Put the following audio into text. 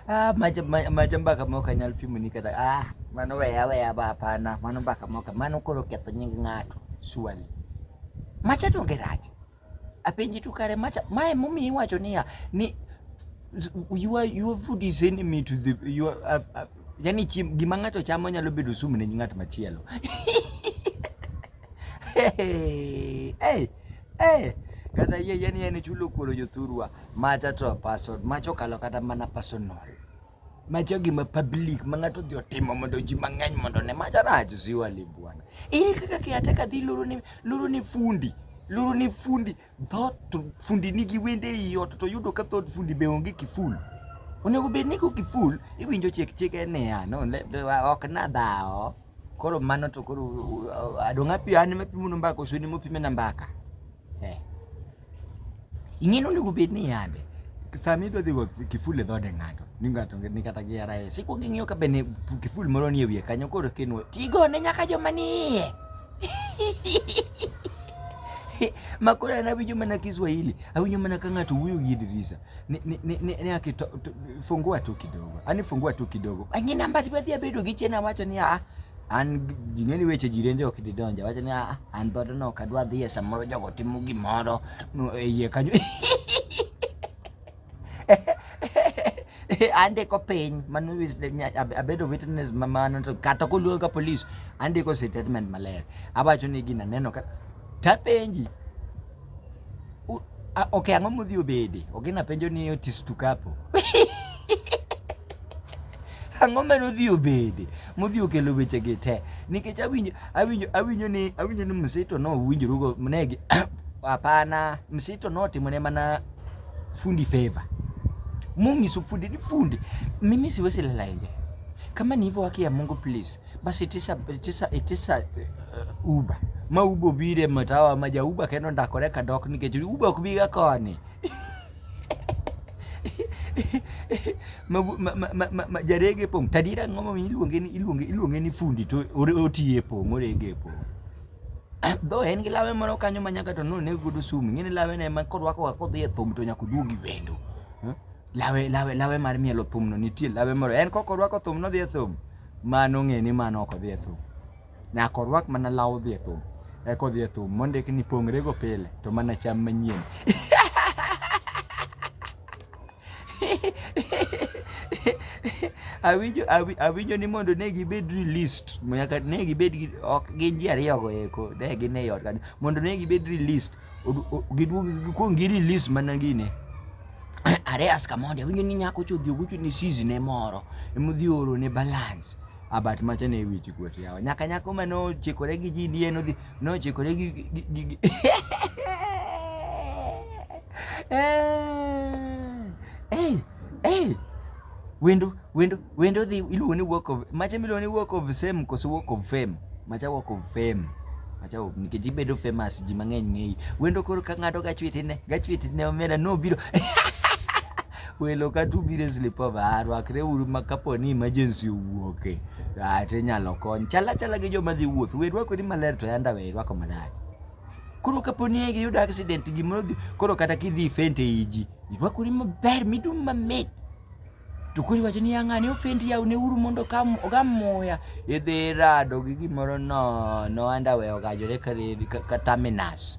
ah, maja maja mpaka moka nyal pimu ni kata ah mano weya weya ba pana mano mpaka moka mano koro ketho nying ng'ato swali macha to ngeraje apenji tu kare macha mae mumi iwacho niya ni you are your food is enemy to the you are, uh, uh, yani chim, gima ng'ato chamo nyalo bedo sumu ne ng'at machielo Hey, hey, hey. Kata yie yie ni en chulo kuoro jothurwa macha to person macha okalo kata mana personal macha gima public ma ng'ato odhi otimo mondo ji mang'eny mondo ne macha rach ziwa li bwana ere kaka kiateka dhi loro ni loro ni fundi loro ni fundi Thot fundi nigi wende ei ot to yudo ka thot fundi be onge kiful. Onego bed ni ko kiful iwinjo chek chek en niya no ok na dhawo. Koro mano to koro adong' api an ema apimo mbaka osuni mopime na mbaka. Eh. Ing'e ni onego bed ni yande sama idwa dhi go kiful e dhode ng'ato ni ng'ato ni kata gi arae sikwongo ing'iyo ka be kiful moro ni e wiye kanyo koro kinwo tigone nyaka joma ni iye makora na bijuma na Kiswahili au nyuma na kanga tu huyu Idrisa ni ni ni, ni, ni akito fungua tu kidogo ani fungua tu kidogo anyi namba tibadhi abedo gichena wacho ni a an jingeni weche jirende ok didonja wacho ni a an bodo no kadwa dhie samoro jogo timo gimoro e yie kanyo andiko piny mano abedo witness mamano to kata koluonga ka police andiko statement maler awacho ni gina neno ka tapenji ok ang'o modhi obede ok gina penjo ni otis tukapo ang'o ma nodhi obede modhi okelo weche gi te nikech awinjo awinjo awinjo ni awinjo ni msito no winjorugo negi hapana msito no timone mana Fundi favor. Mungu fundi ni fundi. Mimi siwezi lala nje. Kama ni hivyo haki ya Mungu please. Basi tisa tisa tisa uh, uba. Ma ubo bire matawa maja uba kendo ndakoreka dok nikech uba kubiga koni. majarege pong' tadira ng'oma iluonge ni iluonge iluonge ni fundi to otiye pong' orege pong' Dho en gi lawe moro kanyo ma nyaka to noneg godo sum. Ing'e ni lawe ne ma korwakoga kodhi e thum to nyaka oduogi wendo. Eh? Lawe, lawe, lawe mar mielo thumno nitie lawe moro. En kok orwako thum nodhi e thum, mano ng'e ni mano ok odhi e thum. Nyaka orwak mana law odhi e thum. Eka odhi e thum mondik ni pongre go pile to mana cham manyien. awinjo awinjo ni mondo ne gibed released nyaka ne gibed ok gin ji ariyo go eko ne gin e ot kanyo mondo ne gibed released giduog gikuong gi release mana gine areas kamondi awinjo ni nyako chodhi oguchu ni sizi ne moro emodhi oro ne balance abat macha ne wich kuot yawa nyaka nyako ma nochikore gi ji dien odhi nochikore gi Hey, hey. Wendo, wendo, wendo dhi iluongo ni work of macha miluongo ni work of same koso work of fame. Macha work of fame. Macha nikech ibedo famous ji mang'eny ng'eyi. Wendo koro ka ng'ato gachwiti ne, gachwiti ne omera no biro. Welo ka tu biro slip over, ah, rwakre uru ma kapo ni emergency owuoke. Ah, to inyalo kony. Chala chala gi joma dhi wuoth. Werwa kodi maler to yanda we rwako marach. Koro kapo ni iyudo accident gimoro dhi koro kata kidhi ifent ei ji, irwakori maber midum mamit. To koro iwacho ni ng'ani ofend yaw ne uru mondo oga muya. Idhi rado gi gimoro nono underwear ogajore ka terminus.